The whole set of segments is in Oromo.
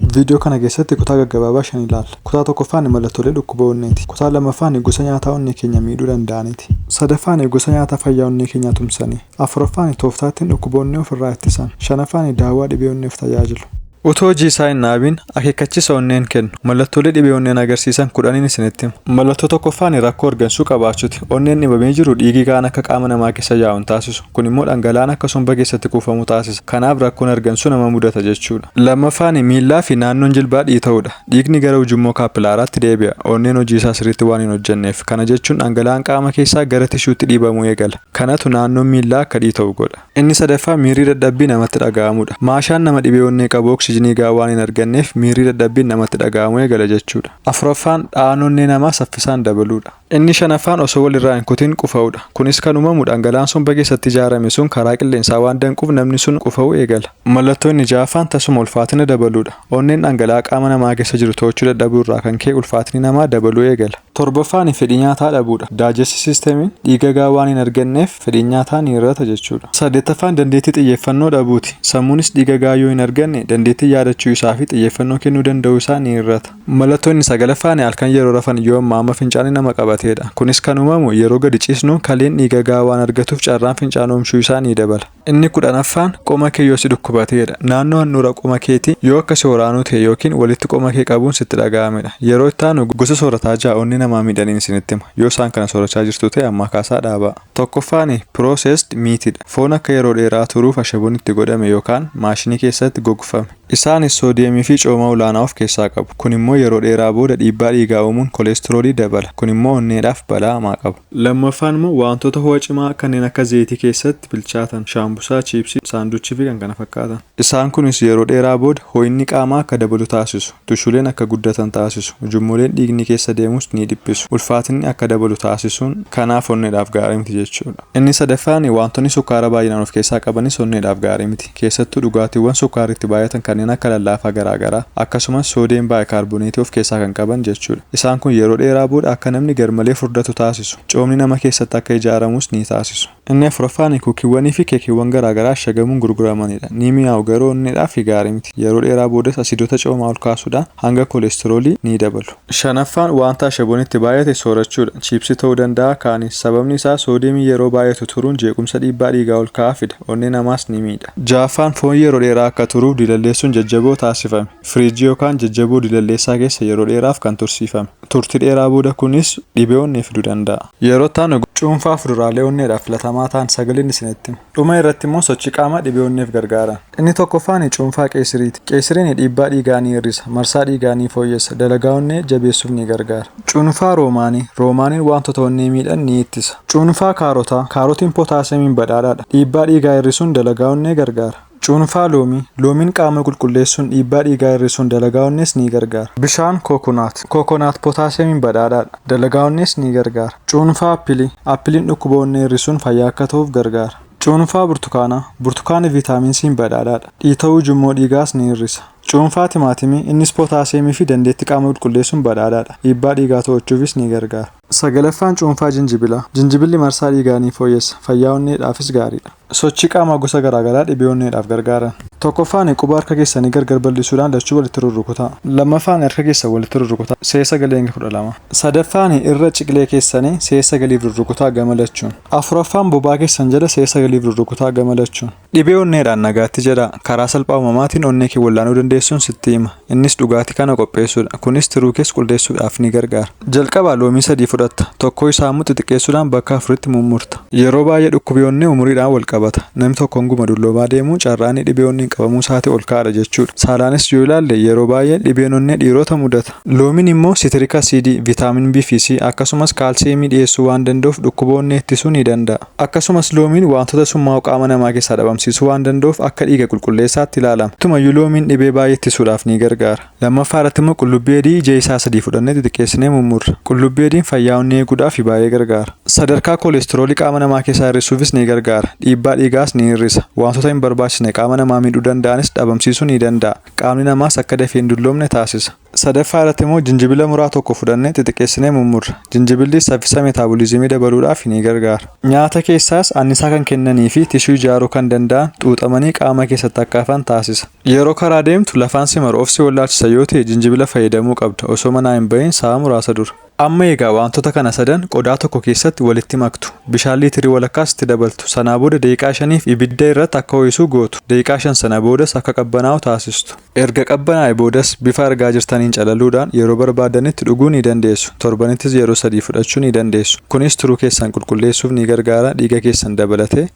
Viidiyoo kana keessatti kutaa gaggabaabaa shan ilaalla. Kutaa tokkoffaani mallattoolee dhukkuba onneeti. Kutaan lammaffaani gosa nyaataa onnee keenya miidhuu danda'aniiti. Sadaffaani gosa nyaataa fayyaa onnee keenyaa tumsani. Afuraffaani tooftaa ittin dhukkuba onnee of irraa ittisan. Shanaffaani daawwaa dhibee onneef tajaajilu. Utuu hojii isaa hin dhaabiin akeekkachiisa onneen kennu. Mallattoolee dhibee onneen agarsiisan kudhaniin isinitti hima. Mallattoo tokkoffaani rakkoo hargansuu qabaachuti. Onneen dhibamee jiru dhiigi ga'aan akka qaama namaa keessa yaa'u hin taasisu. Kun immoo dhangala'aan akka somba keessatti kuufamu taasisa. Kanaaf rakkoon hargansuu nama mudata jechuudha. Lammaffaani miillaafi naannoon jilbaa dhiita'uudha. Dhiigni gara ujummoo kaappilaaraatti deebi'a. Onneen hojii isaa sirriitti waan hin hojjenneef. Kana jechuun dhangala'aan qaama keessaa gara tishuutti dhiibamuu eegala. Kanatu naannoon miillaa akka dhiita'u godha. Inni sadaffaa miirri dadhabbii namatti dhaga'amuudha. Maashaan nama dhibee onnee qabu oksijinii gahaa waan hin arganneef miirri dadhabbiin namatti dhaga'amuu eegala jechuudha. Afuraffaan dha'aan onnee namaa saffisaan dabaluudha. Inni shanaffaan osoo wal irraa hin kutin qufa'uu dha. Kunis kan uumamu dhangala'aan somba keessatti ijaarame sun karaa qilleensaa waan danquuf namni sun qufa'uu eegala. Mallattoo inni ja'affaan tasuma ulfaatina dabaluu dha. Onneen dhangala'aa qaama namaa keessa jiru to'achuu dadhabuu irraa kan ka'e ulfaatinni namaa dabaluu eegala. Torbaffaani fedhii nyaataa dhabuu dha. Daajesti siistemiin dhiiga gahaa waan hin arganneef fedhiin nyaataa ni hir'ata jechuu dha. Saddeettaffaan dandeettii xiyyeeffannoo dhabuu ti. Sammuunis dhiiga gahaa yoo hin arganne dandeettiin yaadachuu isaa fi xiyyeeffannoo kennuu danda'uu isaa ni hir'ata. Mallattoo inni sagalaffaan halkan yeroo rafan yoom maama fincaanii nama qabateedha. Kunis kan uumamu yeroo gadi ciisnu kaleen dhiiga gahaa waan argatuuf carraan fincaan oomshuu isaa ni dabala. Inni kudhanaffaan qoma kee yoo si dhukkubateedha. Naannoo handhuura qoma keetii yoo akka si waraanuu ta'e ykn walitti qoma kee qabuun sitti dhaga'amedha. Yeroo itti aanu gosa soorataa ja'a onnee namaa miidhaniin isinitti hima. Yoo isaan kana soorachaa jirtu ta'e ammaa kaasaa dhaabaa. Tokkoffaan processed meat dha. Foon akka yeroo dheeraa turuuf ashaboon itti godhame yookaan maashinii keessatti gogfame. Isaanis soodiyemii fi cooma olaanaa of keessaa qabu. Kun immoo yeroo dheeraa booda dhiibbaa dhiigaa uumuun koleestiroolii dabala. Kun immoo onneedhaaf balaa hamaa qaba. Lammaffaan immoo waantota ho'a cimaa kanneen akka zayitii keessatti bilchaatan, shaambusaa, chiipsii, saanduchii fi kkf. Isaan kunis yeroo dheeraa booda ho'inni qaamaa akka dabalu taasisu, tushuleen akka guddatan taasisu, ujummoleen dhiigni keessa deemus ni dhiphisu, ulfaatinni akka dabalu taasisuun kanaaf onneedhaaf gaarii miti jechuudha. Inni sadaffaan waantonni sukkaara baay'inaan of keessaa qabanis onneedhaaf gaarii miti. keessattuu dhugaatiiwwan sukkaarri itti baay'atan kanneen akka lallaafaa garaa garaa, akkasumas soodiyem baayikaarboneetii of keessaa kan qaban jechuudha. Isaan kun yeroo dheeraa booda akka namni garmalee furdatu taasisu. Coomni nama keessatti akka ijaaramus ni taasisu. Inni afuraffaan kuukiiwwanii fi keekiiwwan garaa garaa ashagamuun gurguramanidha. Ni mi'aawu, garuu onneedhaaf gaarii miti. Yeroo dheeraa boodas asiidota coomaa ol kaasuudhaan hanga koleestiroolii ni dabalu. Shanaffaan wanta ashaboon itti baay'ate soorachuudha. Chiipsii ta'uu danda'a, kaanis. Sababni isaa soodiyeemiin yeroo baay'atu turuun jeequmsa dhiibbaa dhiigaa ol ka'aa fida, onnee namaas ni miidha. Jahaffaan foon yeroo dheeraa akka turuuf dilalleessuun jajjaboo taasifame, firiijii yookaan jajjaboo dilalleessaa keessa yeroo dheeraaf kan tursiifame. Turtii dheeraa booda kunis dhibee onnee fiduu danda'a. Yeroo itti aanu cuunfaa fuduraalee onneedhaaf filatamaa ta'an sagaliin isinitti hima. Dhuma irratti immoo sochii qaamaa dhibee onneef gargaaran. Inni tokkoffaani cuunfaa qeesiriiti. Qeesiriini dhiibbaa dhiigaa ni hir'isa, marsaa dhiigaa ni fooyyessa, dalagaa onnee jabeessuuf ni gargaara. Cuunfaa roomaanii, roomaaniin waantota onnee miidhan ni ittisa. Cuunfaa kaarotaa, kaarotiin potaasiyamiin badhaadhaadha. Dhiibbaa dhiigaa hir'isuun dalagaa onnee gargaara. Cuunfaa loomii, loomiin qaama qulqulleessuun dhiibbaa dhiigaa hir'isuun dalagaa onnees ni gargaara. Bishaan kookonaat, kookonaat potaasiyamiin badhaadhaadha. Dalagaa onnees ni gargaara. Cuunfaa appilii, appiliin dhukkuba onnee hir'isuun fayyaa akka tahuuf gargaara. Cuunfaa burtukaanaa, Burtukaanni viitaamin C'n badhaadhaadha. Dhiita'uu ujummoo dhiigaas ni hir'isa. Cuunfaa timaatimii, innis pootaasiyeemii fi dandeettii qaama qulqulleessuun badhaadhaadha. Dhiibbaa dhiigaa to'achuufis ni gargaara. Sagalaffaan cuunfaa jinjibilaa. Jinjibilli marsaa dhiigaa ni fooyyessa, fayyaa onneedhaafis gaariidha. Sochii qaamaa gosa garaa garaa dhibee onneedhaaf gargaaran. Tokkoffaan, Quba harka keessanii gargar bal'isuudhaan lachuu walitti rurrukutaa. Lammaffaan, Harka keessan walitti rurrukutaa, see 9-12. Sadaffaan, Irra ciqilee keessanii see 9f rurrukutaa gama lachuun. Afuraffaan bobaa keessan jala si'a sagaliif rurrukutaa gama lachuun. Dhibee onneedhaan nagaatti jedhaa. Karaa salphaa uumamaatiin onnee kee wal'aanuu dandeessuun sitti hima. Innis dhugaatii kana qopheessuudha. Kunis tiruu kees quldeessuudhaaf ni gargaara. Jalqaba loomii sadii fudhatta. Tokkoo isaa ammoo xixiqqeessuudhaan bakka afuritti mummurta. Yeroo baay'ee dhukkubi onnee umuriidhaan wal qabata. Namni tokko hanguma dulloomaa deemu carraa inni dhibee onneen qabamuu isaatii ol ka'aadha jechuudha. Saalaanis yoo ilaalle yeroo baay'ee dhibeen onnee dhiiroota mudata. Loomiin immoo sitiriik asiidii, vitaamin B fi C, akkasumas kaalsiyeemii dhiyeessuu waan danda'uuf dhukkuba onnee ittisuu ni danda'a. Akkasumas loomiin waantota summaa'oo qaama namaa keessaa dhabamsiisuu waan danda'uuf akka dhiiga qulqulleessaatti ilaalama. Tumayyuu loomiin dhibee baay'ee ittisuudhaaf ni gargaara. Lammaffaa irratti immoo qullubbii adii ija isaa sadii fudhannee xixiqqeessinee mummurra. Qullubbii adiin fayyaa onnee eeguudhaaf baay'ee gargaara. Sadarkaa koleestiroolii qaama namaa keessaa hir'isuufis ni gargaara. Dhiibbaa dhiigaas ni hir'isa. Waantota hin barbaachisne qaama namaa miidhuu danda'anis dhabamsiisuu ni danda'a. Qaamni namaas akka dafee hin dulloomne taasisa. Sadaffaa irratti immoo jinjibila muraa tokko fudhannee xixiqqeessinee mummurra. Jinjibillis saffisa metaaboliizimii dabaluudhaaf ni gargaara. Nyaata keessaas annisaa kan kennanii fi tishuu ijaaruu kan danda'an xuuxamanii qaama keessatti akka hafan taasisa. Yeroo karaa deemtu lafaan si maru of si wallaalchisa yoo ta'e jinjibila fayyadamuu qabda osoo manaa hin bahiin sa'a muraasa dura. Amma egaa waantota kana sadan qodaa tokko keessatti walitti maktu. Bishaan liitirii walakkaas itti dabaltu. Sanaa booda daqiiqaa shaniif ibidda irratti akka ho'isu gootu. Daqiiqaa shan sana boodas akka qabbanaa'u taasistu. Erga qabbanaa'e boodas bifa argaa jirtaniin calaluudhaan yeroo barbaaddanitti dhuguu ni dandeessu. Torbanittis yeroo sadii fudhachuu ni dandeessu. Kunis tiruu keessan qulqulleessuuf ni gargaara, dhiiga keessan dabalatee.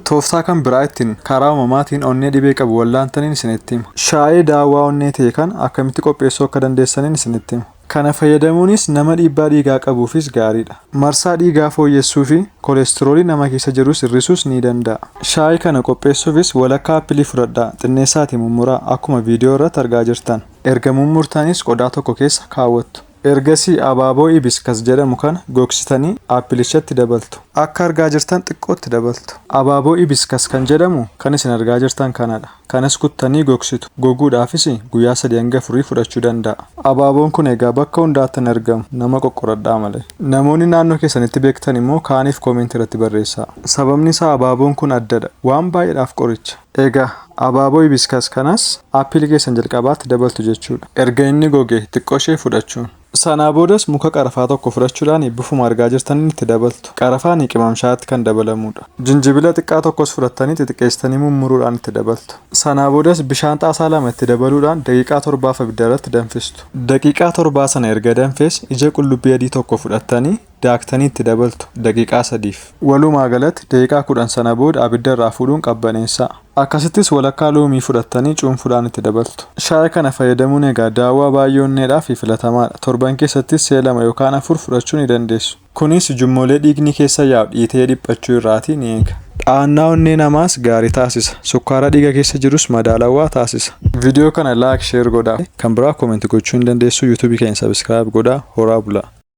Tooftaa kan biraa ittiin karaa uumamaatiin onnee dhibee qabu wallaantaniin isinitti hima. Shaayee daawwaa onnee ta'e kana akkamitti qopheessuu akka dandeessaniin isinitti hima. Kana fayyadamuunis nama dhiibbaa dhiigaa qabuufis gaariidha. Marsaa dhiigaa fooyyessuufi kolestiroolii nama keessa jirus hir'isuus ni danda'a. Shaayii kana qopheessuufis walakkaa appilii fudhadhaa, xinneessaatii mummuraa, akkuma viidiyoo irratti argaa jirtan. Erga mummurtaniis qodaa tokko keessa kaawwattu. Ergasii abaaboo Hibiscus jedhamu kana gogsitanii appilichatti dabaltu. Akka argaa jirtan xiqqoo itti dabaltu. Abaaboo Hibiscus kan jedhamu kan isin argaa jirtan kanadha. Kanas kuttanii gogsitu. Goguudhaafis guyyaa 3-4 fudhachuu danda'a. Abaaboon kun egaa bakka hundaatti hin argamu. Nama qoqqoradhaa malee. Namoonni naannoo keessanitti beektan immoo kaaniif comment irratti barreessaa. Sababni isaa abaaboon kun addadha. Waan baay'eedhaaf qoricha. Egaa abaaboo hibiscus kanas apple keessan jalqabaatti dabaltu jechuudha. Erga inni gogee xiqqooshee fudhachuun. Sanaa boodas muka qarafaa tokko fudhachuudhaan bifuma argaa jirtaniin itti dabaltu. Qarafaan qimam shaayitti kan dabalamuudha. Jinjibila xiqqaa tokkos fudhattanii xixiqqeessitanii mummuruudhaan itti dabaltu. Sanaa boodas bishaan xaasaa lama itti dabaluudhaan daqiiqaa torbaaf abiddarratti danfistu. Daqiiqaa torbaa sana erga danfes ija qullubbii adii tokko fudhattanii daaktanii itti dabaltu daqiiqaa 3f. Walumaa galatti daqiiqaa 10 sana booda abidda irraa fuudhuun qabbaneessaa. Akkasittis walakkaa loomii fudhattanii cuunfuudhaan itti dabaltu. Shaayii kana fayyadamuun egaa daawwaa baay'ee onneedhaafi filatamaadha. Torban keessattis si'a lama yookaan afur fudhachuu ni dandeessu. Kunis ujummolee dhiigni keessa yaa'u dhiitee dhiphachuu irraatii ni eega. Dha'annaa onnee namaas gaarii taasisa. Sukkaara dhiiga keessa jirus madaalawwaa taasisa. Video kana like, share godhaa. Kan biraa comment gochuu ni dandeessu. Youtube keenya subscribe godhaa. Horaa bulaa.